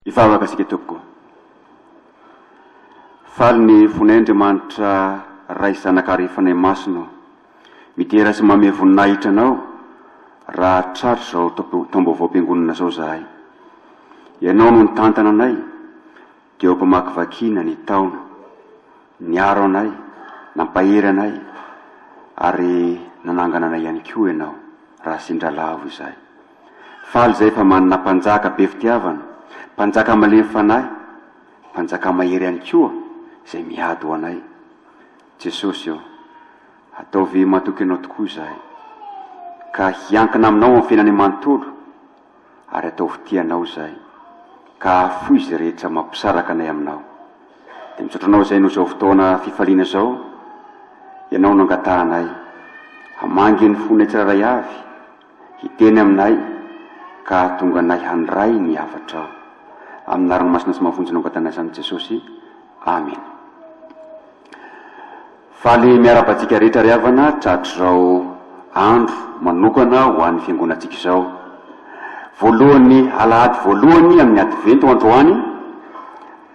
Hivavaka isika tompoko. Faly ny fonay Andriamanitra Ray Zanaka ary Fanahy Masina ô. Midera sy manome voninahitra Anao raha tratry izao taom-baovaom-piangonana izao izahay. Ianao no nitantana anay dia ho mpamakivakiana ny taona. Niaro anay, nampahery anay ary nanangana anay ihany koa Ianao raha sendra lavo izahay. Faly izay fa manana Mpanjaka be fitiavana, Mpanjaka malemy fanahy, Mpanjaka mahery ihany koa izay miady ho anay. Jesosy ô, ataovy matoky Anao tokoa izahay, ka hiankina Aminao amin'ny fiainany manontolo, ary ataovy tia Anao izahay, ka ahafoy izay rehetra mampisaraka anay Aminao. Dia misaotra Anao izay noho izao fotoana fifaliana izao Ianao no angatahanay. Hamangy ny fonay tsirairay avy. Hiteny aminay, ka hahatonga anay handray ny hafatrao. Amina ranomasina sy mahavonjy nongatanay samy Jesosy. Amena. Faly miarahaba antsika rehetra ry havana tratr'izao andro manokana ho an'ny fiangonantsika izao. Voalohan'ny alahady voalohany amin'ny advento androany,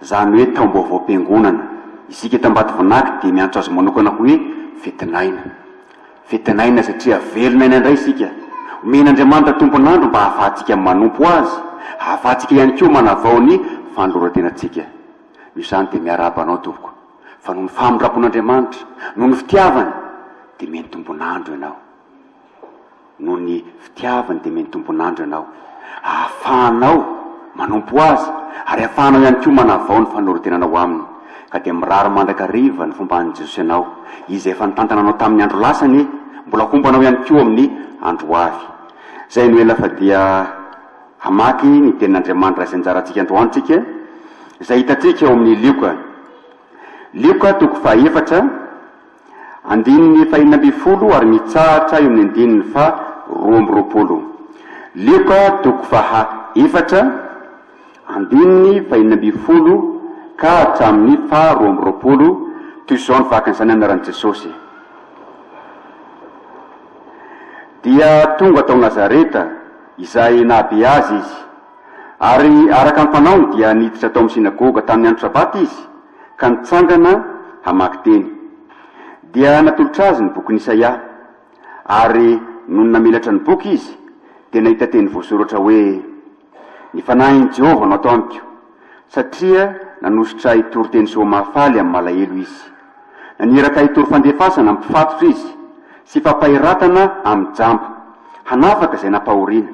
izany hoe taom-baovaom-piangonana. Isika eto Ambatovinaky dia miantso azy manokana hoe fetin'aina. Vita n'aina satria velona aina indray isika. Omen'Andriamanitra tompon'andro mba hahafahantsika manompo Azy, hahafahantsika ihany koa manavao ny fanoloran-tenantsika. Noho izany dia miarahaba anao tompoko, fa noho ny famindram-pon'Andriamanitra, noho ny fitiavany, dia omeny tompon'andro ianao. Noho ny. Pitiaviny dia mety tompon'andro ianao, ahafahanao manompo Azy, ary ahafahanao ihany koa manavao ny fanorontenanao Aminy. Ka dia mirary mandrakariva ny fomba an'i Jesosy anao, Izay efa nitantana anao tamin'ny andro lasa anie, mbola homba anao ihany koa amin'ny andro ho avy. Izay no ela fa dia hamaky ny Tenin'Andriamanitra izay anjara antsika androany tsika, izay hitantsika ao amin'ny Lioka. Lioka toko faha efatra. Andininy fahenina ambin'ny folo ary mitsahatra eo amin'ny andininy faha roa amby roapolo. Lioka toko faha efatra, andininy fahenina ambin'ny folo ka hatramin'ny faha roa amby roapolo, toy izao ny fahakan'izany anaran'i Jesosy, Dia tonga tao Nazareta, izay nahabe azy izy, ary araka ny fanaony dia niditra tao amin'ny synagoga tamin'ny andro sabata izy, ka nitsangana hamaky teny. Dia natolotra azy ny bokin'i Isaia, ary nony namelatra ny boky izy, dia nahita teny voasoratra hoe, Ny fanahin'i Jehovah no ato amiko, satria nanosotra ahy hitory teny soa mahafaly amin'ny malahelo izy. Naniraka ahy hitory fandefasana amin'ny mpifatotra izy, sy fampaheratana amin'ny jamba, hanafaka izay nampahoriana,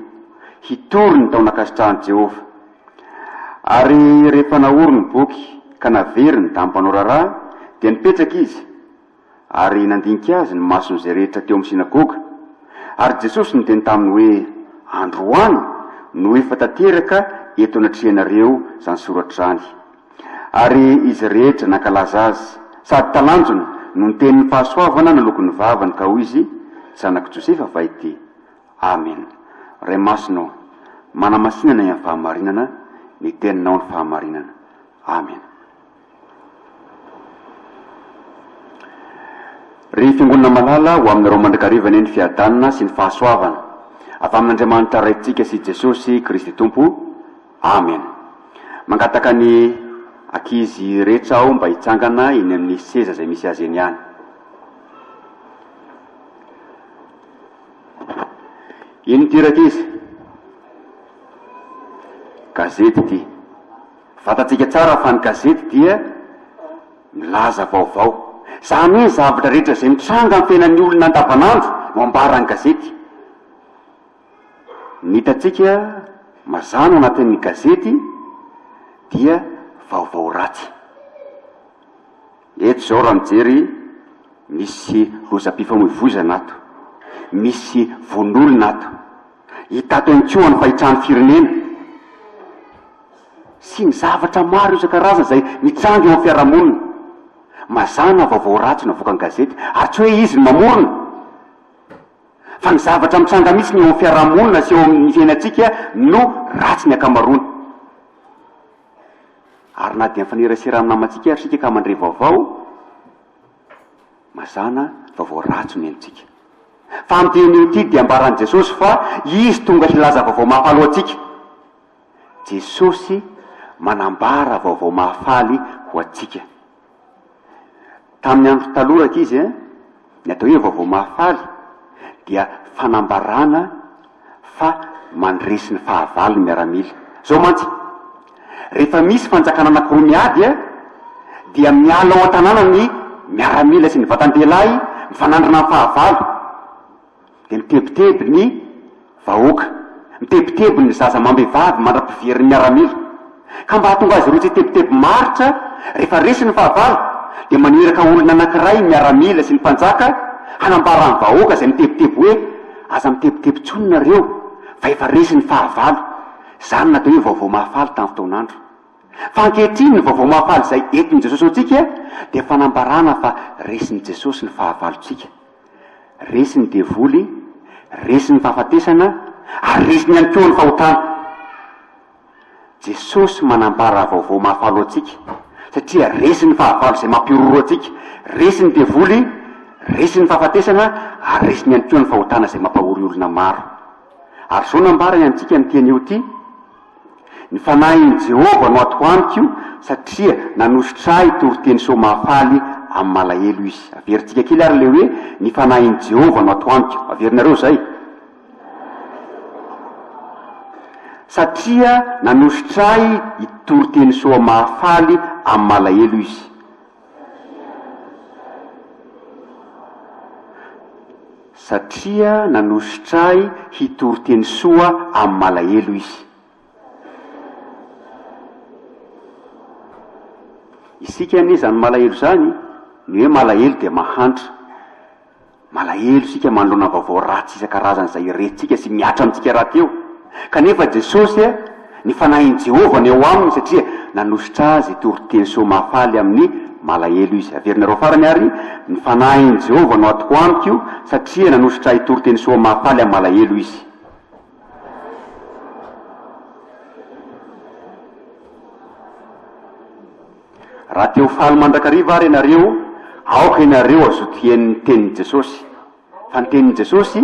hitory ny taon'ankasitrahan'i Jehovah. Ary rehefa naory ny boky ka navery ny dahy mpanao raharaha, dia nipetraka izy, ary nandinika azy ny mason'izay rehetra teo amin'ny synagoga. Ary Jesosy niteny taminy hoe, Androany no efa tanteraka eto anatrehanareo izany soratra izany. Ary izy rehetra nankalaza azy, sady talanjona no niteny ny fahasoavana naloky ny vavany ka hoy izy, Zanak'i Josefa va ity? Amen Ray masina ô manamasinana iany fahamarinana ny teninao ny fahamarinana Amen Ry fiangonana malala ho aminareo mandrakariva anie ny fiadanana sy ny fahasoavana avy amin'Andriamanitra Raintsika sy Jesosy Kristy Tompo Amen Mangataka ny akizy rehetra aho mba hitsangana eny amin'ny seza izay misy azy eny ihany. Ino ity Rankizy? Gazety ity. Fantatsika tsara fa ny gazety dia milaza vaovao. Izany hoe ny zavatra rehetra izay mitranga amin'ny fiainan'ny olona andavanandro no ambaran'ny gazety. Ny hitantsika mazàna ao anatin'ny gazety dia vaovao ratsy. Eto izao raha mijery, misy lozam-pifamoivoizana ato, misy vono olona ato. Hita ato ihany koa ny fahitran'ny firenena sy ny zavatra maro isan-karazany izay mitranga eo amin'ny fiarahamonina. Mazàna vaovao ratsy no avoakan'ny gazety, ary tsy hoe izy no mamorona, fa ny zavatra mitranga mihitsiny eo amin'ny fiarahamonina sy eo amin'ny fiainantsika no ratsy ny ankamaroany. Ary na dia mifanerasera amin'ny namantsika ary isika ka mandre vaovao mazàna, vaovao ratsy no henontsika. Fa amin'ity anio ity dia ambaran'i Jesosy fa Izy tonga hilaza vaovao mahafaly ho antsika. Jesosy manambara vaovao mahafaly ho antsika. Tamin'ny andro taloha rankizy eh, ny atao hoe vaovao mahafaly dia fanambarana fa mandresy ny fahavalo ny miaramila. Zao mantsy, rehefa misy fanjakana anakiroa miady eh, dia miala ao an-tanàna ny miaramila sy ny vatan-dehilahy mifanandrina amin'ny fahavalo. dia mitebiteby ny vahoaka, mitebiteby ny zaza amam-behivavy mandra-piverin'ny miaramila. Ka mba hahatonga azy ireo tsy hitebiteby maharitra, rehefa resy ny fahavalo, dia maniraka olona anankiray ny miaramila sy ny mpanjaka hanambara amin'ny vahoaka izay mitebiteby hoe, Aza mitebiteby intsony nareo fa efa resy ny fahavalo. Izany no atao hoe vaovao mahafaly tamin'ny fotoan'andro. Fa ankehitriny ny vaovao mahafaly izay entin'i Jesosy ho antsika dia fanambarana fa resin'i Jesosy ny fahavalontsika. Resy ny devoly, resy ny fahafatesana, ary resiny ihany koa ny fahotana. Jesosy manambara vaovao mahafaly ho antsika, satria resy ny fahavalo izay mampihorohoro antsika. Resy ny devoly, resy ny fahafatesana, ary resiny ihany koa ny fahotana izay mampahory olona maro. Ary izao nambarany antsika amin'ity anio ity, Ny fanahin'i Jehovah no atoko amiko, satria nanosotra ahy toriteny soa mahafaly amin'ny malahelo izy. Averintsika kely àry ilay hoe Ny fanahin'i Jehovah no atoko amiko. Averinareo izay? Satria nanosotra ahy itoriteny soa mahafaly amin'ny malahelo izy. Satria nanosotra ahy hitory teny soa amin'ny malahelo izy. Isika anie izany malahelo izany, ny hoe malahelo dia mahantra. Malahelo isika manoloana vaovao ratsy isan-karazany izay iresintsika sy mihatra amintsika rahateo eo. Kanefa Jesosy, ny Fanahin'i Jehovah no eo aminy satria nanosotra azy toriteny soa mahafaly amin'ny malahelo izy. Averinareo farany àry, Ny Fanahin'i Jehovah no atoko amiko satria nanosotra ahy toriteny soa mahafaly amin'ny malahelo izy. Raha te ho faly mandrakariva àry ianareo, aoka ianareo hazotoen'ny tenin'i Jesosy. Fa ny tenin'i Jesosy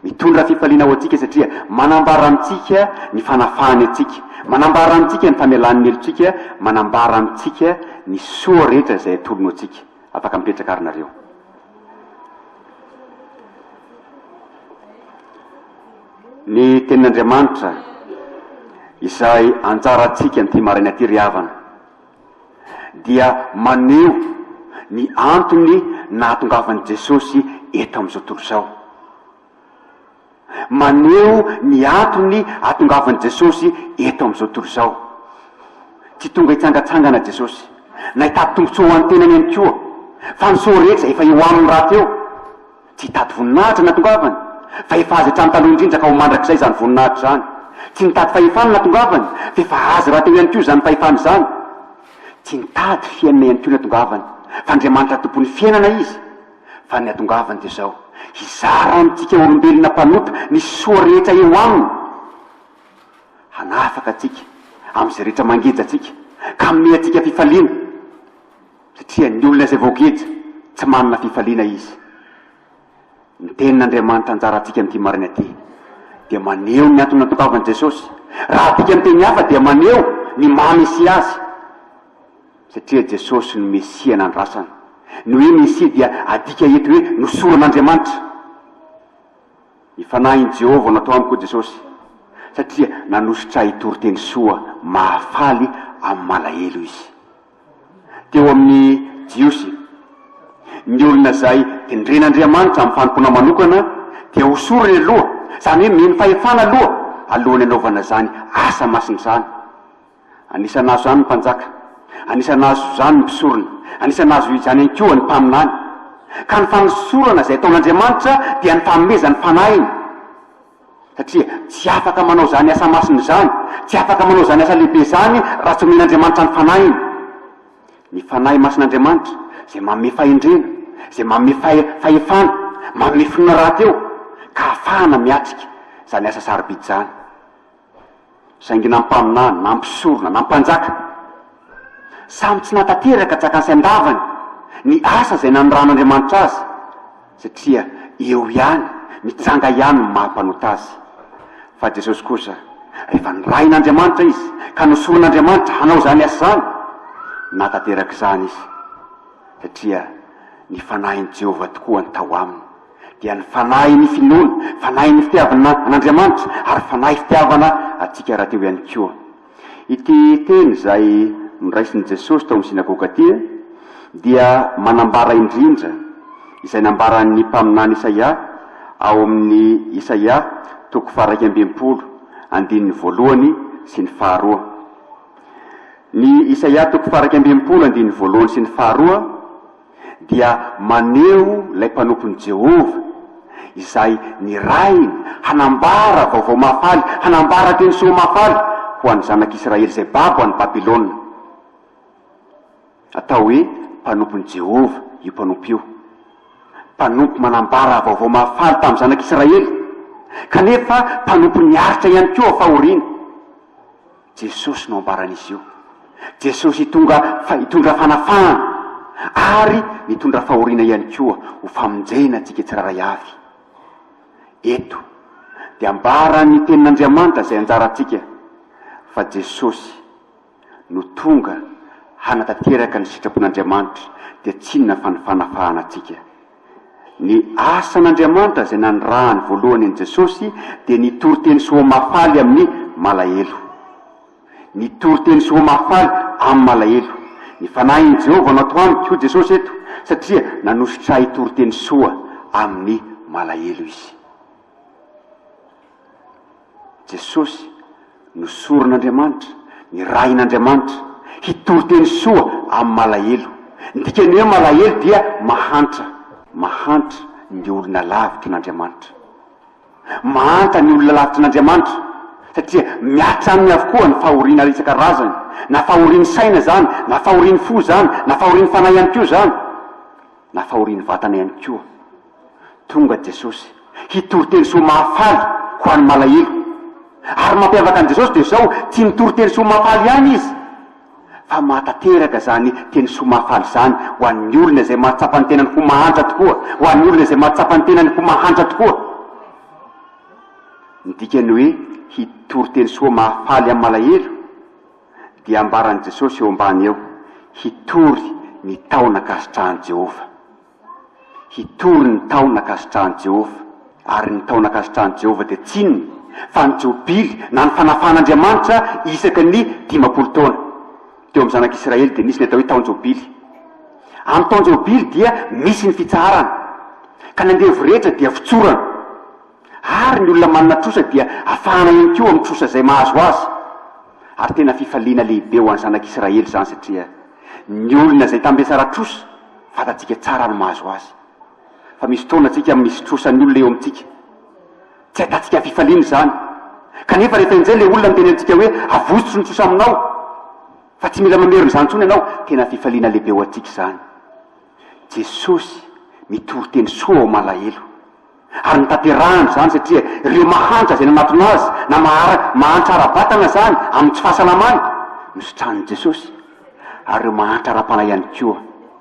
mitondra fifaliana ho antsika satria manambara amintsika ny fanafahany antsika, manambara amintsika ny famelany ny helotsika, manambara amintsika ny soa rehetra izay atolony ho antsika. Afaka mipetraka àry nareo. Ny Tenin'Andriamanitra izay anjarantsika an'ity maraina ity ry havana dia maneho ny antony nahatongavan'i Jesosy eto amin'izao tontolo izao. Maneho ny antony ahatongavan'i Jesosy eto amin'izao tontolo izao. Tsy tonga hitsangatsangana Jesosy, na hitady tombontsoa ho an'ny tenany ihany koa, fa ny soa rehetra efa eo Aminy rahateo. Tsy hitady voninahitra ny natongavany, fa efa azy hatramin'ny taloha indrindra ka ho mandrakizay izany voninahitra izany. Tsy nitady fahefana ny natongavany, fa efa azy rahateo ihany koa izany fahefana izany. Tsy nitady fiainana ihany koa ny natongavany, fa Andriamanitra Tompon'ny fiainana izy. Fa ny natongavany dia izao, hizara amintsika olombelona mpanota ny soa rehetra eo aminy, hanafaka antsika amin'izay rehetra mangeja antsika, ka hanome antsika fifaliana. Tsy tian'ny olona izay voageja, tsy manana fifaliana izy. Ny Tenin'Andriamanitra anjarantsika amin'ity maraina ity dia maneho ny antony nantongavan'i Jesosy. Raha adika amin'ny teny hafa dia maneho ny maha Mesia Azy. Satria Jesosy no Mesia nandrasana. Ny hoe Mesia dia adika eto hoe nosoron'Andriamanitra. Ny Fanahin'i Jehovah no atao amiko, hoy Jesosy, satria nanosotra ahy hitory teny soa mahafaly amin'ny malahelo Izy. teo amin'ny Jiosy. Ny olona izay tendren'Andriamanitra amin'ny fanompoana manokana dia hosoriny aloha, izany hoe mino fahefana aloha alohan'ny hanaovana izany asa masina izany. Anisan'ny hahazo izany ny mpanjaka, anisan'ny hahazo izany ny mpisorona, anisan'ny hahazo izany ihany koa ny mpaminany. Ka ny fanosorana izay ataon'Andriamanitra dia ny fanomezany fanahiny. Satria tsy afaka manao izany asa masina izany, tsy afaka manao izany asa lehibe izany raha tsy omen'Andriamanitra ny Fanahiny. Ny Fanahy Masin'Andriamanitra, izay manome fahendrena, izay manome fahe, fahefana, manome finoana rahateo, ka ahafahana miatrika izany asa sarobidy izany. Saingy nampaminany, nampisorona, nampanjaka, samy tsy nahatanteraka tsakany sy andavany ny asa izay nanirahan'Andriamanitra azy, satria eo ihany, mitsanga ihany ny maha mpanota azy. Fa Jesosy kosa, rehefa nirahin'Andriamanitra izy, ka nosoron'Andriamanitra hanao izany asa izany, nahatanteraka izany izy, satria ny fanahin'i Jehovah tokoa no tao aminy. dia ny fanahy ny finoana, fanahy ny fitiavana an'Andriamanitra ary fanahy fitiavana antsika rahateo ihany koa. Ity teny izay noraisin'i Jesosy tao amin'ny synagoga ity dia manambara indrindra izay nambaran'ny mpaminany Isaia ao amin'ny Isaia toko faharaika amby enimpolo andininy voalohany sy ny faharoa. Ny Isaia toko faharaika amby enimpolo andininy voalohany sy ny faharoa dia maneho ilay mpanompon'i Jehovah, izay nirahiny, hanambara vaovao mahafaly, hanambara teny soa mahafaly ho an'ny zanak'Israely izay babo any Babylona. Atao hoe mpanompon'i Jehovah io mpanompo io, mpanompo manambara vaovao mahafaly tamin'ny zanak'Israely, kanefa mpanompo niaritra ihany koa fahoriana. Jesosy no ambaran'izy io. Jesosy hitondra fa hitondra fanafahana ary mitondra fahoriana ihany koa ho famonjena antsika tsirairay avy. Eto dia ambaran'ny Tenin'Andriamanitra izay anjarantsika fa Jesosy no tonga hanatanteraka ny sitrapon'Andriamanitra dia tsinona fa ny fanafahana antsika. Ny asan'Andriamanitra izay nanirahany voalohany an'i Jesosy dia ny toriteny soa mahafaly amin'ny malahelo. Ny toriteny soa mahafaly amin'ny malahelo. Ny Fanahin'i Jehovah no atao amiko, hoy Jesosy eto, satria nanosotra ahy toriteny soa amin'ny malahelo izy. Jesosy no soron'Andriamanitra, nirahin'Andriamanitra, hitory teny soa amin'ny malahelo. Ny dikan'ny hoe malahelo dia mahantra, mahantra ny olona lavitry n'Andriamanitra. Mahanta ny olona lavitry n'Andriamanitra satria mihatra aminy avokoa ny fahoriana isan-karazany, na fahorian'ny saina izany, na fahorian'ny fo izany, na fahorian'ny fanahy ihany koa izany, na fahorian'ny vatana ihany koa. Tonga Jesosy, hitory teny soa mahafaly ho an'ny malahelo. Ary ny mampiavaka an'i Jesosy dia izao, tsy mitory teny soa mahafaly ihany Izy, fa mahatanteraka izany teny soa mahafaly izany ho an'ny olona izay mahatsapa ny tenany ho mahantra tokoa, ho an'ny olona izay mahatsapa ny tenany ho mahantra tokoa. Ny dikan'ny hoe hitory teny soa mahafaly amin'ny malahelo dia ambaran'i Jesosy eo ambany eo, hitory ny taona ankasitrahan'i Jehovah. Hitory ny taona ankasitrahan'i Jehovah. Ary ny taona ankasitrahan'i Jehovah dia tsy inona fa ny Jobily, na ny fanafahan'Andriamanitra isaky ny dimampolo taona. Teo amin'ny zanak'Israely dia nisy ny atao hoe Taon-jobily. Amin'ny Taon-jobily dia misy ny fitsaharana, ka ny andevo rehetra dia fitsorana. ary ny olona manana trosa dia afahana ihany koa amin'ny trosa izay mahazo azy, ary tena fifaliana lehibe ho an'ny zanak'Israely izany satria ny olona izay tambe tsara trosa fantatsika tsara ny mahazo azy. Fa misy fotoana tsika misy trosa ny olona eo amintsika, tsy ahitantsika fifaliana izany, kanefa rehefa enjeh ilay olona miteny amintsika hoe avotso ny trosa aminao fa tsy mila mamerina izany intsony ianao, tena fifaliana lehibe ho antsika izany. Jesosy mitory teny soa ao malahelo. Ary notanterahany izany satria ireo mahantra izay nanatona Azy na mahara, mahantra ara-batana izany amin'ny tsy fahasalamany, nositranin'i Jesosy. Ary ireo mahantra ara-panahy ihany koa,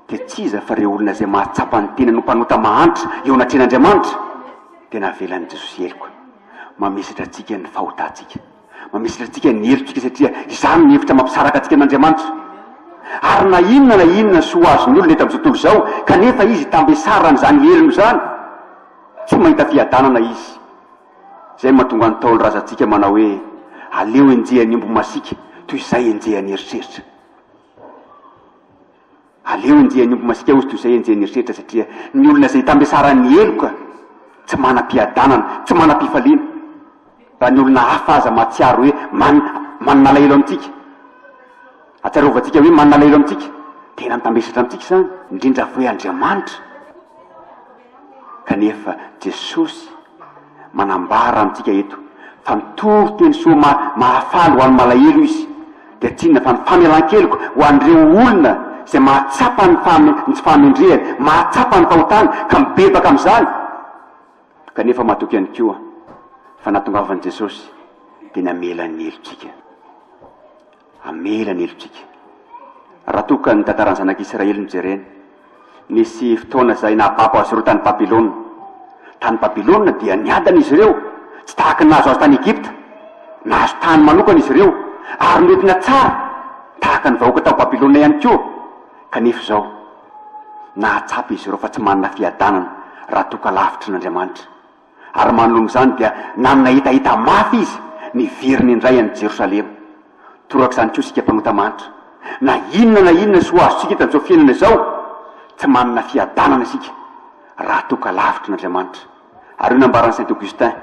dia tsy iza fa ireo olona izay mahatsapa ny tenany ho mpanota mahantra eo anatrehan'Andriamanitra, dia navelan'i Jesosy heloka, mamesatra antsika ny fahotantsika. Mamesitra antsika ny helotsika satria izany no hevitra mampisaraka antsika amin'Andriamanitra. Ary na inona na inona soa azon'ny olona eto amin'izao tontolo izao, kanefa izy tambesara an'izany helony izany, tsy mahita fiadanana izy. Izay no mahatonga ny Ntaolo razantsika manao hoe, Aleo enjehan'ny omby masiaka toy izay enjehan'ny eritreritra. Aleo andia ny omby masiaka hozy toy izay enjehin'ny eritreritra satria ny olona izay itambesaran'ny heloka tsy manam-piadanana, tsy manam-pifaliana. Raha ny olona hafa aza mahatsiaro hoe man, manana alahelo amintsika, atsarovantsika hoe manana alahelo amintsika, tena mitambesatra amintsika izany, indrindra fa hoe Andriamanitra. Kanefa Jesosy manambara amintsika eto fa mitory teny soa mahafaly ho an'ny malahelo Izy, dia tsy inona fa ny famelan-keloka ho an'ireo olona izay mahatsapa ny tsy fahamendrehany, mahatsapa ny fahotany ka mibebaka amin'izany. Kanefa matoky ihany koa fa nahatongavan'i Jesosy dia namela ny helotsika. Hamela ny helotsika. Raha toa ka ny tantaran'ny Zanak'i Israely no jerena, nisy fotoana izay nahababo azy ireo tany Babylona. Tany Babylona dia niadana izy ireo, tsy tahaka ny nahazo azy tany Egypta. Nahazo tany manokana izy ireo, ary noentina tsara, tahaka ny vahoaka tao Babylona ihany koa. Kanefa izao, nahatsapa izy ireo fa tsy manana fiadanana raha toa ka lavitry n'Andriamanitra. Ary manoloana izany dia nanana hetaheta mafy izy, niverina indray any Jerosalema. Toraka izany koa isika mpanota manitra. Na inona na inona soa azontsika eto amin'izao fiainana izao, tsy manana fiadanana isika raha toa ka lavitra an'Andriamanitra. Ary io nambaran'i Saint Augustin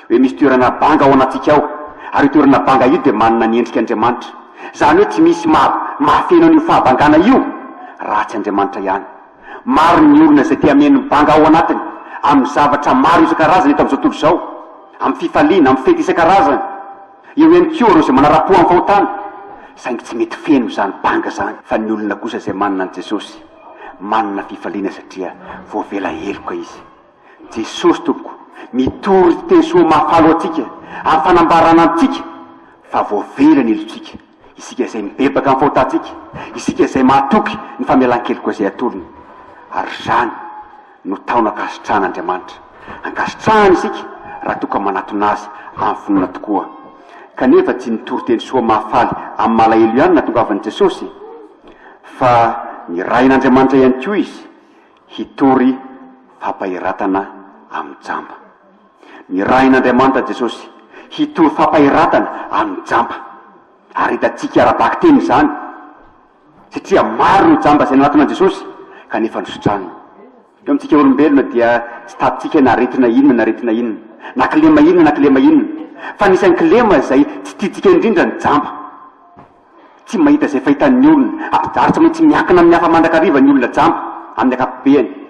hoe misy toerana banga ao anatintsika ao, ary io toerana banga io dia manana ny endrika Andriamanitra. Izany hoe tsy misy maha mahafeno an'io fahabangana io raha tsy Andriamanitra ihany. Maro ny olona izay te hameno ny banga ao anatiny amin'ny zavatra maro isan-karazany eto amin'izao tontolo izao, amin'ny fifaliana, amin'ny fety isan-karazany. Eo ihany koa ireo izay manara-po amin'ny fahotana, saingy tsy mety feno izany banga izany. Fa ny olona kosa izay manana an'i Jesosy, manana fifaliana satria voavela heloka izy. Jesosy Tompoko, mitory teny soa mahafaly ho antsika, amin'ny fanambarana antsika fa voavela ny helotsika. Isika izay mibebaka amin'ny fahotantsika, isika izay mahatoky ny famelan-keloka izay atolony, ary izany no tahona ankasitrahan' Andriamanitra. Ankasitrahany isika raha toa ka manatona Azy amin'ny finoana tokoa. Kanefa tsy ny toriteny soa mahafaly amin'ny malahelo ihany no nahatongavan'i Jesosy, fa nirahin' Andriamanitra ihany koa Izy hitory fampaheratana amin'ny jamba. Nirahin'Andriamanitra Jesosy hitory fampaheratana amin'ny jamba. Ary hitantsika ara-bakiteny izany, satria maro ny jamba izay nanatona an'i Jesosy kanefa nosotrany. Eo amintsika olombelona dia tsy tadintsika na aretina inona na aretina inona, na kilema inona na kilema inona, fa anisan'ny kilema izay tsy tiantsika indrindra ny jamba. Tsy mahita izay fahitan'ny olona, ary tsy maintsy miankina amin'ny hafa mandrakariva ny olona jamba, amin'ny ankapobeny.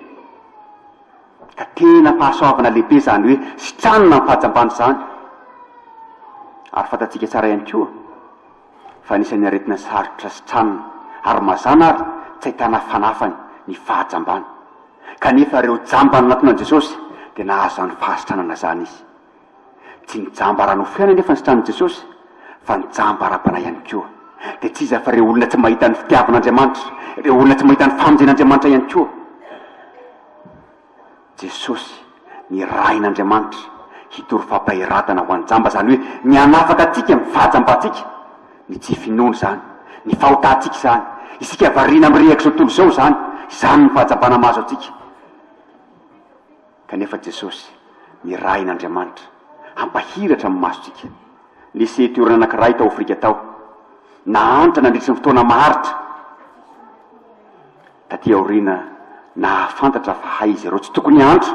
Ka tena fahasoavana lehibe izany hoe sitranina ny fahajambana izany. Ary fantatsika tsara ihany koa fa anisan'ny aretina sarotra sitranina ary mazàna ary tsy ahitana fanafany ny fahajambana. Kanefa ireo jamba nanatona an'i Jesosy dia nahazo izany fahasitranana izany izy. Tsy nijamba ara-nofo ihany anefa ny sitran'i Jesosy, fa nijamba ara-panahy ihany koa. Dia tsy iza afa ireo olona tsy mahita ny fitiavan'Andriamanitra, ireo olona tsy mahita ny famonjen'Andriamanitra ihany koa. Jesosy nirahin'Andriamanitra hitory fampaheratana ho an'ny jamba, izany hoe ny hanafaka antsika amin'ny fahajambantsika, ny tsy finoana izany, ny fahotantsika izany, isika variana mirehaka izao tontolo izao izany, izany ny fahajambana mahazo antsika. Kanefa Jesosy, nirahin' Andriamanitra hampahiratra amin'ny masontsika. Nisy toerana anankiray tao Afrika tao, nahantra nandritry ny fotoana maharitra. Tatỳ aoriana, nahafantatra fa hay izy ireo tsy tokony hahantra,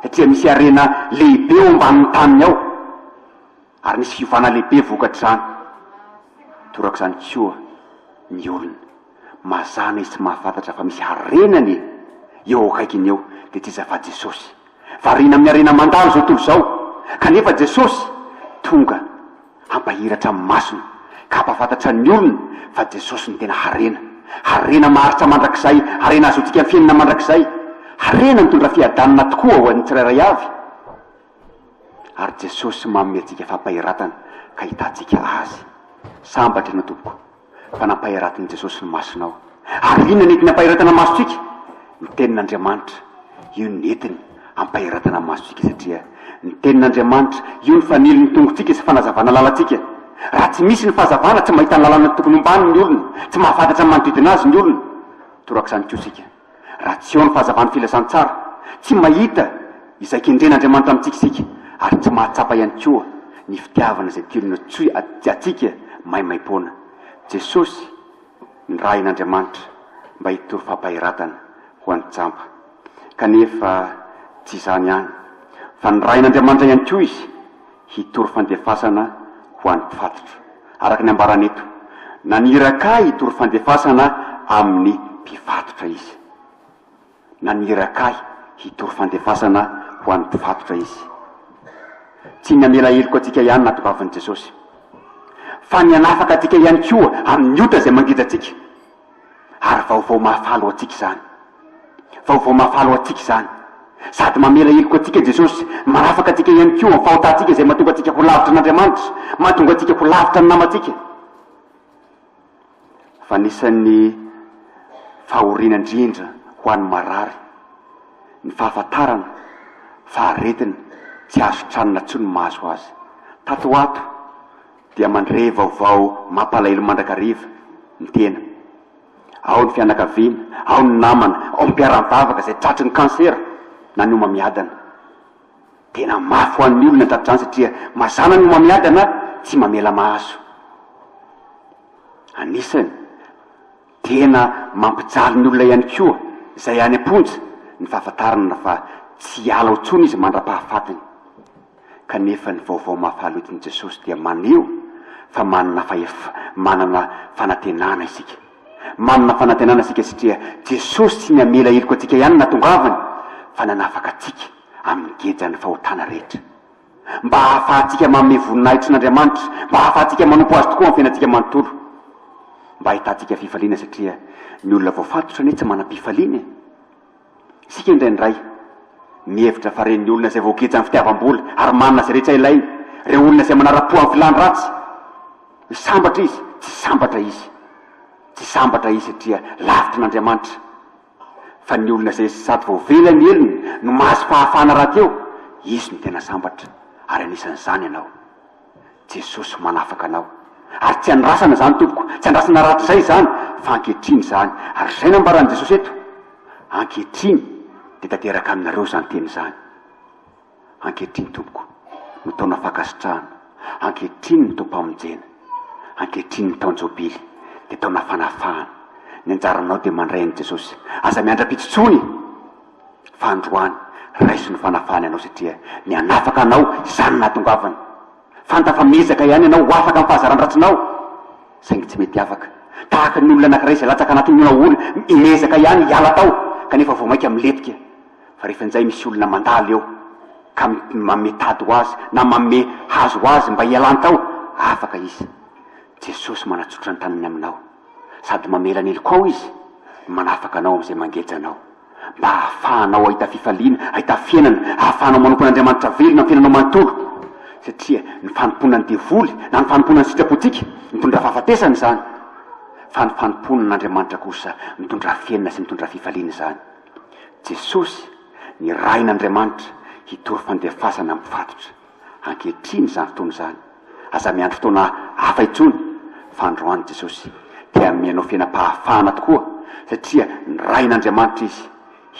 satria misy harena lehibe eo ambanin'ny taniny ao, ary nisy fiovana lehibe vokatr'izany. Torak'izany koa ny olona. Mazana izy tsy mahafantatra fa misy harenany e! eo akaikiny eo dia tsy iza fa Jesosy! Variana amin'ny harena mandalo izao tontolo izao kanefa Jesosy tonga hampahiratra amin'ny masony ka hampahafantatra ny olona fa Jesosy no tena harena! Harena maharitra mandrakizay, harena hazoantsika ny fiainana mandrakizay, harena mitondra fiadanana tokoa ho an'ny tsirairay avy ary Jesosy manome antsika fampahiratana ka hitantsika Azy! Sambatra ianao tompoko! fa nampaheratin'i Jesosy ny masonao. Ary inona nety nampaheratana ny masontsika? Ny tenin'Andriamanitra. Io no nentiny hampaheratana ny masontsika satria ny tenin'Andriamanitra, io no fanilin'ny tongotsika sy fanazavana lalantsika. Raha tsy misy ny fahazavana, tsy mahita ny lalana tokony hombaniny ny olona, tsy mahafantatra ny manodidina azy ny olona. Torak'izany koa isika. Raha tsy eo ny fahazavan'ny filazantsara, tsy mahita izay kendren'Andriamanitra amintsika isika, ary tsy mahatsapa ihany koa ny fitiavana izay tiany natsoy antsika maimaimpoana. Jesosy nirahin'Andriamanitra mba hitory fampaheratana ho an'ny jamba. Kanefa tsy izany ihany, fa nirahin'Andriamanitra ihany koa izy. hitory fandefasana ho an'ny mpifatotra, araka ny ambarany eto. Naniraka ahy hitory fandefasana amin'ny mpifatotra izy. Naniraka ahy hitory fandefasana ho an'ny mpifatotra izy. Tsy ny hamela heloka antsika ihany no natongavan'i Jesosy, fa ny hanafaka antsika ihany koa amin'ny ota izay mangeja antsika. Ary vaovao mahafaly ho antsika izany. Vaovao mahafaly ho antsika izany. Sady mamela heloka antsika Jesosy, manafaka antsika ihany koa amin'ny fahotantsika izay mahatonga antsika ho lavitra an'Andriamanitra, mahatonga antsika ho lavitra ny namantsika. Fa anisan'ny fahoriana indrindra ho an'ny marary ny fahafantarana fa aretina tsy azo tranona intsony mahazo azy. Tato ho ato, dia mandre vaovao mampalahelo mandrakariva ny tena. Ao ny fianakaviana, ao ny namana, ao ny mpiara-mivavaka izay tratry ny kansera na ny homamiadana. Tena mafy ho an'ny olona ny tratr'izany satria mazàna ny homamiadana tsy mamela maso. Anisany. Tena mampijaly ny olona ihany koa izay any am-ponja ny fahafantarana fa tsy hiala ao intsony izy mandra-pahafatiny. Kanefa ny vaovao mahafaly hoentin'i Jesosy dia maneho fa manana fahef-, manana fanantenana isika. Manana fanantenana isika satria Jesosy tsy ny hamela heloka antsika ihany no nahatongavany fa nanafaka antsika amin'ny gejan'ny fahotana rehetra. mba hahafahantsika manome voninahitro an'Andriamanitra, mba hahafahantsika manompo Azy tokoa amin'ny fiainantsika manontolo, mba hahitantsika fifaliana satria ny olona voafatotra anie tsy manam-pifaliana e! Isika indraindray mihevitra fa ren'ny olona izay voagejan'ny fitiavam-bola ary manana izay rehetra ilainy, ireo olona izay manara-po amin'ny filàny ratsy, hoe sambatra izy, tsy sambatra izy, tsy sambatra izy satria lavitra an'Andriamanitra. Fa ny olona izay sady voavela ny helony no mahazo fahafahana rahateo, izy no tena sambatra, ary anisan'izany ianao. Jesosy manafaka anao. Ary tsy andrasana izany tompoko, tsy andrasana rahatrizay izany, fa ankehitriny izany. Ary izay nambaran'i Jesosy eto, ankehitriny dia tanteraka aminareo izany teny izany. Ankehitriny tompoko no taona fankasitrahana, ankehitriny ny taom-pamonjena, ankehitriny ny taon-jobily dia taona fanafahana, ny anjaranao dia mandray an'i Jesosy, aza miandra-pito intsony fa androany raiso ny fanafahany anao satria ny hanafaka anao izany no nahatongavany, fanta fa miezaka ihany ianao ho afaka amin'ny fahazaran-dratsinao saingy tsy mety afaka, tahaka ny olona anankiray izay latsaka anatin'ny onahoana, miezaka ihany hiala tao kanefa vao mainka milentika. Fa rehefa injay misy olona mandalo eo ka manome tady ho azy na manome hazo ho azy mba hialany tao, afaka izy. Jesosy manatsotra ny tanany aminao sady mamela ny heloka ao Izy no manafaka anao amin'izay mangeja anao mba hahafahanao hahita fifaliana, hahita fiainana, hahafahanao manompo an'Andriamanitra velona amin'ny fiainanao manontolo. Satria ny fanompoana ny devoly na ny fanompoana ny sitrapontsika mitondra fahafatesana izany. Fa ny fanompoana an'Andriamanitra kosa mitondra fiainana sy mitondra fifaliana izany. Jesosy, ny Rain' Andriamanitra, hitory fandefasana mpifatotra. Ankehitriny izany fotoana izany. Aza miandry fotoana hafa intsony, fa androany Jesosy te hanome anao fiainam-pahafahana tokoa, satria ny Rain' Andriamanitra Izy.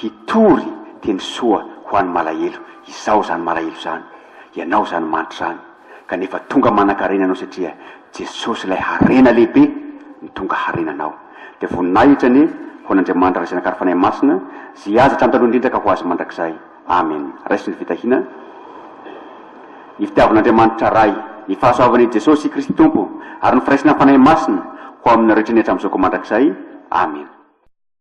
Hitory teny soa ho an'ny malahelo. Izaho izany malahelo izany. Ianao izany manitra izany. kanefa tonga manankarena anao satria Jesosy ilay harena lehibe no tonga harena anao. Dia voninahitra anie ho an'Andriamanitra Ray Zanaka ary Fanahy Masina izay azy hatrany taloha indrindra ka ho azy mandrakizay. Amen. Raiso ny fitahiana, ny fitiavan'Andriamanitra Ray, ny fahasoavan' i Jesosy Kristy Tompo ary ny firaisana amin'ny Fanahy Masina ho aminareo hatrany hatramin'izao ka mandrakizay. Amen.